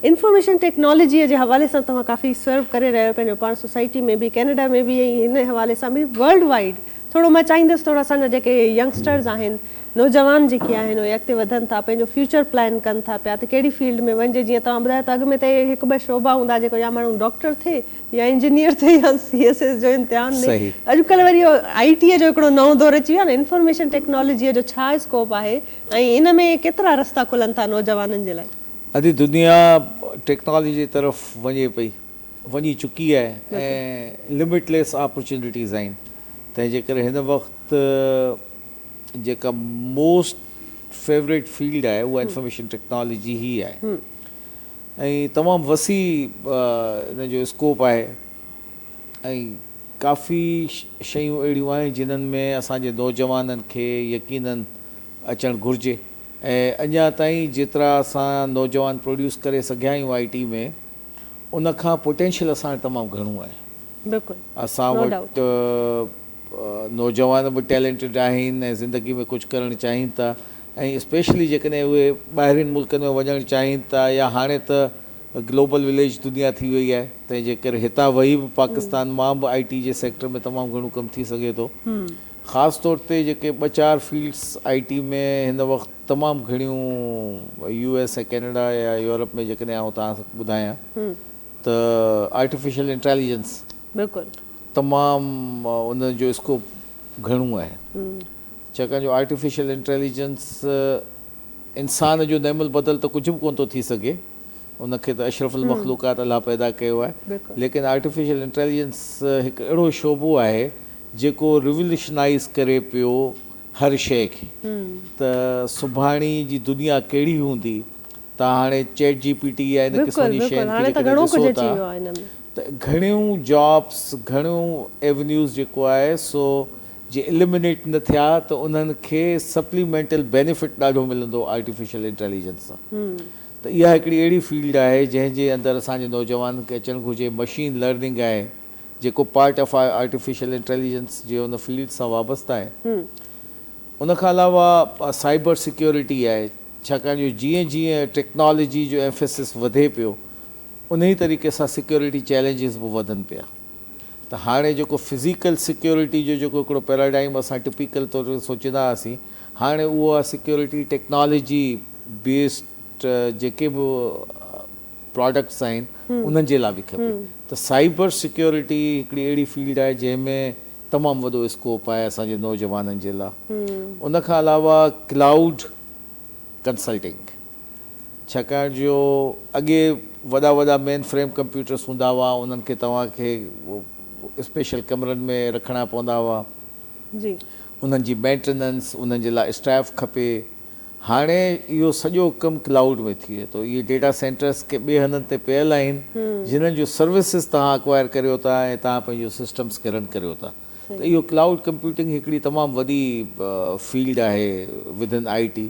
Information technology جي حوالي سان توهان ڪافي سرو ڪري رهيا آهيو پنهنجو پاڻ سوسائٽي ۾ به ڪينيڊا ۾ به ۽ هن حوالي سان به ورلڊ وائيڊ ٿورو مان چاهيندس ٿورو اسان جا جيڪي ينگسٽرز آهن نوجوان جيڪي آهن اهي اڳتي وڌن ٿا پنهنجو فيوچر پلان ڪن ٿا پيا ته ڪهڙي فيلڊ ۾ وڃجي جيئن توهان ٻڌايو ته اڳ ۾ ته هڪ ٻه شعبا هوندا جيڪو يا ماڻهو ڊاڪٽر ٿئي يا انجنيئر ٿئي يا سي ايس ايس جو امتحان ڏئي اڄڪلهه وري اهو آئي ٽي جو هڪڙو نئون دور اچي ويو آهي نه انفارميشن ٽيڪنالاجي جو ڇا اسڪوپ آهي ۽ ان ۾ ڪيترا رستا کلن ٿا نوجوانن جي لاء. اڄ دنيا ٽيڪنالاجي جي طرف وڃي پئي وڃي چڪي آهي ۽ لمٽ ليس آپرچونٽيز آهن تنهن جي ڪري هن وقت جيڪا موسٽ فيوريٽ فيلڊ آهي اها انفارميشن ٽيڪنالاجي هي آهي ۽ تمام وسيع ان جو اسڪوپ آهي ۽ ڪافي شيون اهڙيون آهن جنهن ۾ اسان جي نوجوانن کي يقينن اچڻ گهرجي ۽ اڃا تائين جيترا اسان نوجوان پروڊيوس ڪري سگهيا آهيون آئي ٽي ۾ ان کان پوٽينشل اسان وٽ تمام گهڻو آهي بلڪل اسان نو ڊائوٽ وٽ نوجوان به ٽيلنٽڊ آهن ۽ زندگي ۾ ڪجهه ڪرڻ چاهين ٿا ۽ اسپيشلي جيڪڏهن اهي ٻاهرين ملڪن ۾ وڃڻ چاهين ٿا يا هاڻي ته گلوبل وليج دنيا ٿي وئي آهي تنهن جي ڪري هتان وهي به پاڪستان مان به آئي ٽي جي سيڪٽر ۾ تمام گهڻو ڪم ٿي سگهي ٿو خاص طور تي جيڪي ٻه چار فيلڊس آء ٽي ۾ هن وقت تمام گهڻيون يو ايس ۽ ڪينيڊا يا يورپ ۾ جيڪڏهن آئون توهان کي ٻڌايان ته آرٽيفيشل انٽيليجنس تمام ان جو اسڪوپ گهڻو آهي ڇاڪاڻ جو آرٽيفيشل انٽيليجنس انسان جو نعم البدل ته ڪجهه به ڪونه ٿو ٿي سگهي ان کي ته اشرف المخلوقات الله پيدا ڪيو آهي ليڪن آرٽيفيشل انٽيليجنس هڪ اهڙو شعبو آهي جيڪو ريوليوشنائيز ڪري پيو هر شيء کي ته سڀاڻي جي دنيا ڪهڙي هوندي تان هاڻي چيٽ جي پي ٽي يا ان قسم جي شين کي جيڪڏهن ڏسو ٿا ته گهڻيون جابس گهڻيون ايونيوز جيڪو آهي سو جي اليمنيٽ نه ٿيا ته انهن کي سپليمينٽل بينيفٽ ڏاڍو ملندو آرٽيفيشل انٽيليجنس سان ته اها هڪڙي اهڙي فيلڊ آهي جنهن جي اندر اسان جي نوجوانن کي اچڻ گهرجي، مشين لرننگ آهي جيڪو پارٽ آف آرٽيفيشل انٽيليجنس جي ان فيلڊ سان وابسته آهي، ان کان علاوه سائبر سيڪيورٽي آهي ڇاڪاڻ جو جيئن جيئن ٽيڪنالاجي جو ايمفيسس وڌي پيو انهي طريقي سان سيڪيورٽي چئلينجز به وڌن پيا ته هاڻي جيڪو فزيڪل سيڪيورٽي جو جيڪو هڪڙو پيراڊائم اسان ٽپيڪل طور تي سوچيندا هئاسين هاڻي اها سيڪيورٽي ٽيڪنالاجي بيسڊ جيڪي به پراڊڪٽس آهن انهن جي لاء به کپي ته سائبر سيڪيورٽي هڪڙي اهڙي فيلڊ آهي جنهن ۾ تمام وڏو اسڪوپ آهي اسان جي نوجوانن جي لاء ان کان علاوه ڪلائوڊ ڪنسلٽنگ ڇاڪاڻ جو اڳي وڏا وڏا مين فريم ڪمپيوٽرس هوندا هئا انهن کي توهان کي اسپيشل ڪمرن ۾ رکڻا پوندا هئا انهن جي مينٽيننس انهن جي لاء اسٽاف کپي هاڻي اهو سڄو ڪم ڪلائوڊ ۾ ٿئي ٿو. اهي ڊيٽا سينٽرز ڪي ٻئي هنڌن تي پيل آهن جنھن جون سروسز توهان اڪوائر ڪريو ٿا ۽ توهان پنھنجو سسٽمز کي رن ڪريو ٿا ته اهو ڪلائوڊ ڪمپيوٽنگ هڪڙي تمام وڏي فيلڊ آهي وڌن آء ٽي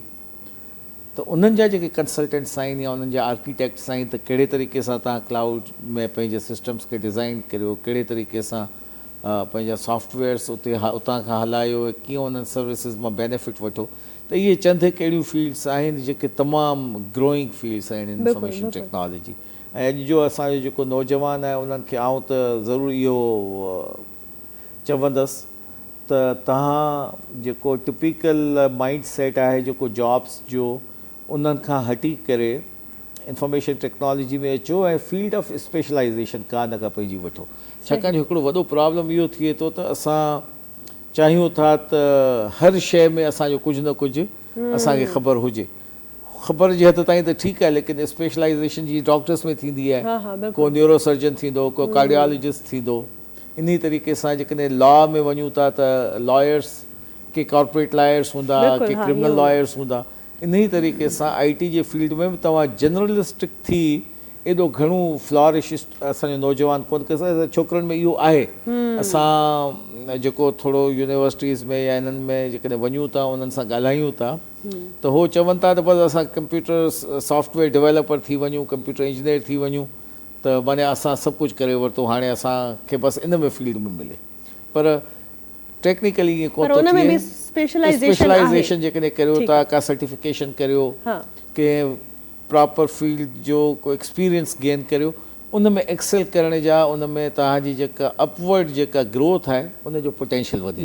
ته انھن جا جيڪي ڪنسلٽنٽس آهن يا انھن جا آرڪيٽيڪٽس آهن ته ڪهڙي طريقي سان توهان ڪلائوڊ ۾ پنھنجي سسٽمز کي ڊزائين ڪريو ڪهڙي طريقي سان پنهنجا سافٽ ويئرس اتي اتان کان هلايو ۽ ڪيئن انهن سروسز مان بينيفٽ وٺو ته اهي چند هڪ اهڙيون فيلڊس آهن جيڪي تمام گروئنگ فيلڊس آهن انفارميشن ٽيڪنالاجي ۽ اڄ جو اسان جو جيڪو نوجوان آهي انهن کي آئون ته ضرور اهو چوندس ته تهان جيڪو ٽپيڪل مائنڊ سيٽ آهي جيڪو جابس جو انهن کان هٽي ڪري انفارميشن ٽيڪنالاجي ۾ اچو ۽ فيلڊ آف اسپيشلائيزيشن ڪا نه ڪا پنهنجي وٺو ڇاڪاڻ جو هڪڙو وڏو پرابلم اهو ٿئي ٿو ته اسان چاهيون ٿا ته هر شيء ۾ اسان جو ڪجهه نه ڪجهه اسان کي خبر هجي خبر جي حد تائين ته ٺيڪ آهي ليڪن اسپيشلائيزيشن جي ڊاڪٽرس ۾ ٿيندي آهي ڪو نيورو سرجن ٿيندو ڪو ڪارڊيالجسٽ ٿيندو انهي طريقي سان جيڪڏهن لا ۾ وڃون ٿا ته لائرس ڪي ڪارپوريٽ لائرس هوندا ڪي ڪرمنل لائرس هوندا انهي طريقي سان آئي ٽي جي فيلڊ ۾ به توهان جنرلسٽڪ ٿي ايڏو گهڻو فلارش اسان جو نوجوان ڪونه ڪري سگهندا ڇوڪرن ۾ اهو آهي اسان جيڪو ٿورو يونيورسٽيز ۾ يا انهن ۾ جيڪڏهن وڃون ٿا انهن سان ڳالهايون ٿا ته هو چون ٿا ته بس اسان ڪمپيوٽر سافٽ ويئر ڊويلپر ٿي وڃون ڪمپيوٽر انجنيئر ٿي وڃون ته معنيٰ اسان سڀ ڪجهه ڪري ورتو هاڻي اسان کي بس ان ۾ فيلڊ ۾ ملي پر ٽيڪنيڪل ائين ڪونه ٿو ٿئي اسپيشلائيزيشن جيڪڏهن ڪريو ٿا ڪا سرٽيفڪيشن ڪريو ڪنهن پراپر فيلڊ جو ڪو ايڪسپيرينس گين ڪريو ان ۾ ايڪسل ڪرڻ جا ان ۾ توهان جي جيڪا اپ ورڊ جيڪا گروٿ آهي ان جو پوٽينشل وڌي